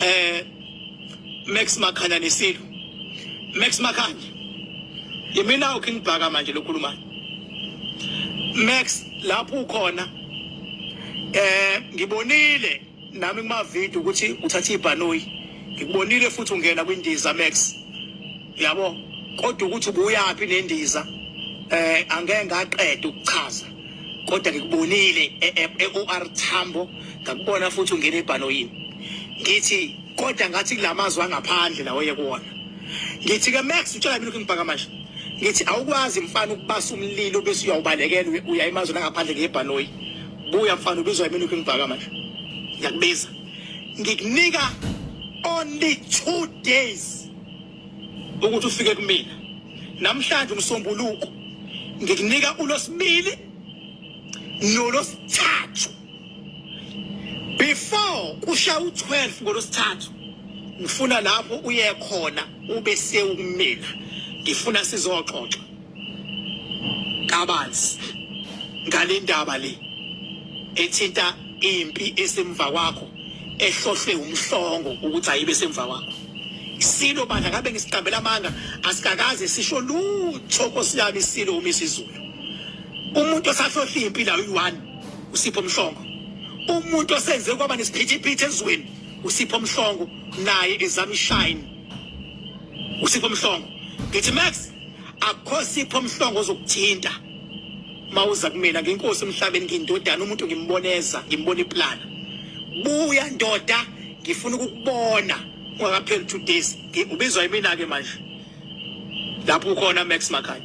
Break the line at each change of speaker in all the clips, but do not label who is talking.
eh Max Makhanya nesilo Max Makhanya yimina uking bhaka manje lokhuluma Max lapho ukhona eh ngibonile nami kuma video ukuthi uthatha ibhanoyi ngikubonile futhi ungena kwindiza Max yabo kodwa ukuthi ubuyaphi nendiza eh angeke ngaqeda ukuchaza kodwa ngikubonile e-OR e, e Tambo ngakubona futhi ungena ebhanoyini ngithi kodwa ngathi kulamazwi angaphandle lawo yekuwona ngithi ke Max utshela mina ukuthi ngibhaka manje ngithi awukwazi mfana ukubasa umlilo bese uyawubalekela uya emazweni angaphandle ngebhanoyi buya mfana ubizwa mina ukuthi ngibhaka manje ngiyakubiza ngikunika only two days ukuthi ufike kumina namhlanje umsombuluko ngikunika ulosibili nolosithathu before kusha u12 ngolosithathu ngifuna lapho uye khona ube sewumina ngifuna sizoxoxa kabanzi ngale ndaba le ethinta impi esemva kwakho ehlohlwe umhlongo ukuthi ayibe semva kwakho isilo bandla kabe ngisiqambela amanga asikakaze sisho lutho nkosi yami isilo uma isizulu umuntu osahlohla impi la uyi-one usipho mhlongo umuntu osenze kwaba nesiphithiphithi ezweni usipho mhlongo naye ezama ishine usipho mhlongo ngithi max akukho sipho mhlongo ozokuthinta mawuza kumina ngenkosi emhlabeni ngindodana umuntu ngimboneza ngimbona iplana buya ndoda ngifuna ukukubona ungakapheli two days ubizwa yimina ke manje lapho ukhona Max Makhaya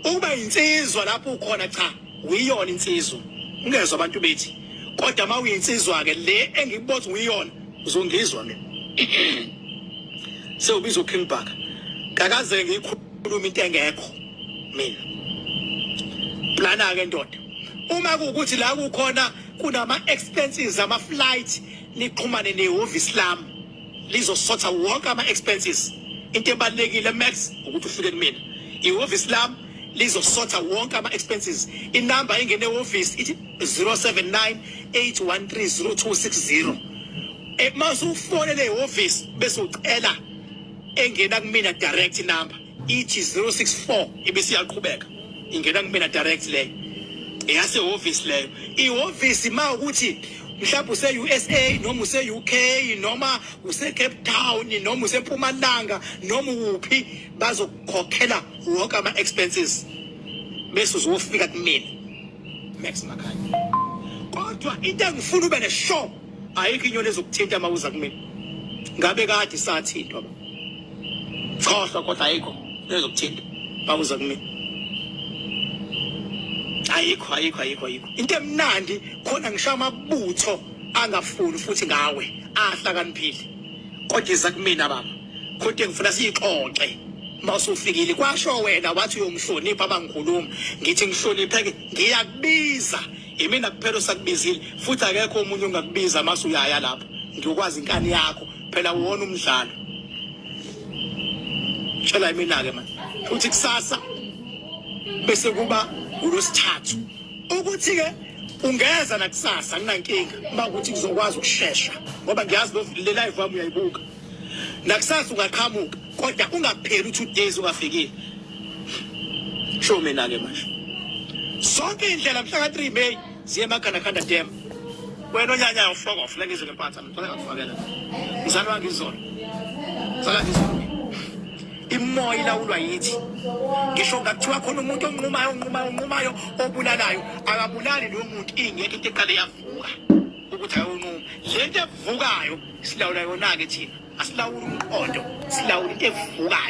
ukuba insizwa lapho ukhona cha Uyiyona insizwa. Ungezwa abantu bethi kodwa uma uyinsizwa ke le engikubothi uyiyona uzongizwa mina. Sewubiza uKing Bhaka. Kakaze ngikhuluma into engekho mina. Plana ke ndoda. Uma kukuthi la kukhona kunama expenses ama flight niqhumane nehhovisi lami. lizosotha wonke ama-expenses into ebalulekile max ukuthi ufike kumina ihhovisi lami lizosotha wonke ama-expenses inamba engene ehhovisi ithi 079 813 0260 uma usufonele ihhovisi bese ucela engena kumina direct number ithi 064 ibisiyaqhubeka ingena kumina direct leyo eyasehhovisi leyo ihhovisi ma ukuthi mhlawumbe use-usa noma use-uk noma use-cape town noma usempumalanga noma uphi bazokukhokhela wonke ama-expenses bese uzofika kumina max makhanya kodwa into engifuna ube ne-show ayikho inyoni ezokuthinta uma uza kumina ngabe kade sathintwa ba khohlwa kodwa ayikho ezokuthinta uma uza kumina ayikho ayikho ayikho ayikho into emnandi khona ngisho amabutho angafuni futhi ngawe ahlakaniphile kodwa iza kumina baba kodwa ngifuna siyixoxe mawusufikile kwasho wena wathi uyomhlonipha abangikhuluma ngithi ngihlonipheke ngiyakubiza Imina kuphela osakubizile futhi akekho omunye ongakubiza mase uyaya lapho. Ngiyokwazi inkani yakho phela uwona umdlalo. Tshela imina ke manje. Futhi kusasa bese kuba ngolosithathu. Ukuthi ke ungeza nakusasa nginankinga uma ukuthi kuzokwazi ukushesha ngoba ngiyazi lo live wami uyayibuka. nakusasa ungaqhamuka kodwa ungapheli u-two days ungafikile sho mina-ke manje zonke iy'ndlela mhla ka-three may ziye emakhandakhanda dem wena onyanya ufoka ufuna ngizwe ngempatha ngicela ngakufakela mzali wangizona mzali wangizona imoya ilawulwa yithi ngisho ngakuthiwa khona umuntu onqumayo onqumayo onqumayo obulalayo akabulali lowo muntu ingekho into eqale yavuka ukuthi ayonquma le nto evukayo silawula yona-ke thina asilawuli umqondo silawula into evukayo